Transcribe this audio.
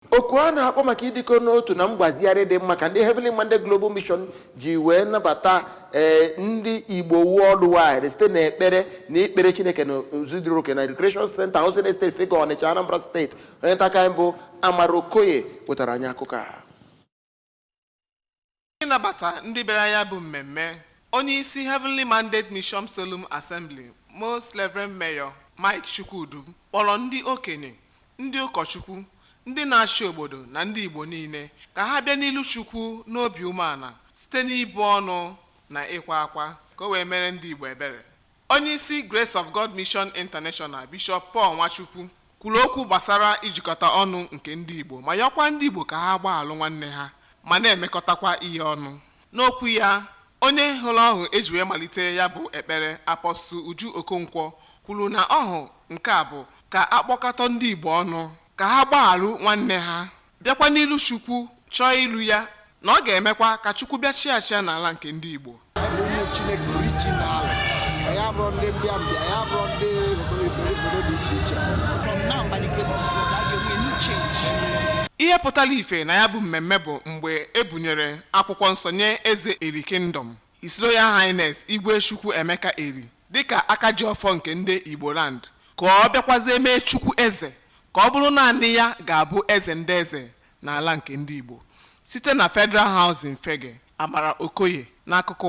Oku a na-akpọ maka ịdịkọ n'otu na mgbazigharị dị mma ka ndị Heavenly Mandate Global Mission ji wee nabata ndị Igbo worldwide site na ekpere na ikpere Chineke n'ụzọ dị oke na Recreation Center Housing Estate Fegge Ọnịcha Anambra Steeti onye nta akụkọ anyị bụ Amara Okoye wetara anyị akụkọ a n'ịnabata ndị bịara ya bụ mmemme onye isi Heavenly Mandate Mission Solemn Assembly Most Reverend Mayor Mike Chukwudum kpọrọ ndị okenye ndị ụkọchukwu ndị na-achị obodo na ndị Igbo niile ka ha bịa n'ilu Chukwu n'obi umeala site n'ibu ọnụ na ịkwa akwa ka o wee mere ndị Igbo ebere Onyeisi Grace of God Mission International, Bishọp Paul Nwachukwu, kwuru okwu gbasara ijikọta ọnụ nke ndị Igbo ma yọọkwa ndị Igbo ka ha gbaghalụ nwanne ha ma na-emekọtakwa ihe ọnụ. N'okwu ya, onye hụrụ ọhụ e ji wee malite ya bụ ekpere, Apostle Uju Okonkwo, kwuru na ọhụ nke a bụ ka a kpọkọta ndị Igbo ọnụ ka ha gbaghalụ nwanne ha. bịakwa n'ilu Chukwu chọọ ilu ya na ọ ga-emekwa ka Chukwu bịa chịa achịa n'ala nke ndị Igbo Chineke original anyị abụrụ ndị mbịa mbịa anyị abụrụ ndị obodo dị iche iche ihe pụtara ife na ya bụ mmemme bụ mgbe e bunyere akwụkwọ nsọ nye eze Eri Kingdom His Royal Highness Igwe Chukwuemeka Eri dịka aka ji ọfọ nke ndị Igbo land ka ọ bịakwazie mee Chukwu eze ka ọ bụrụ naanị ya ga-abụ eze ndị eze n'ala nke ndị Igbo site na Federal Housing Fegge Amara Okoye n'akụkọ ụwa.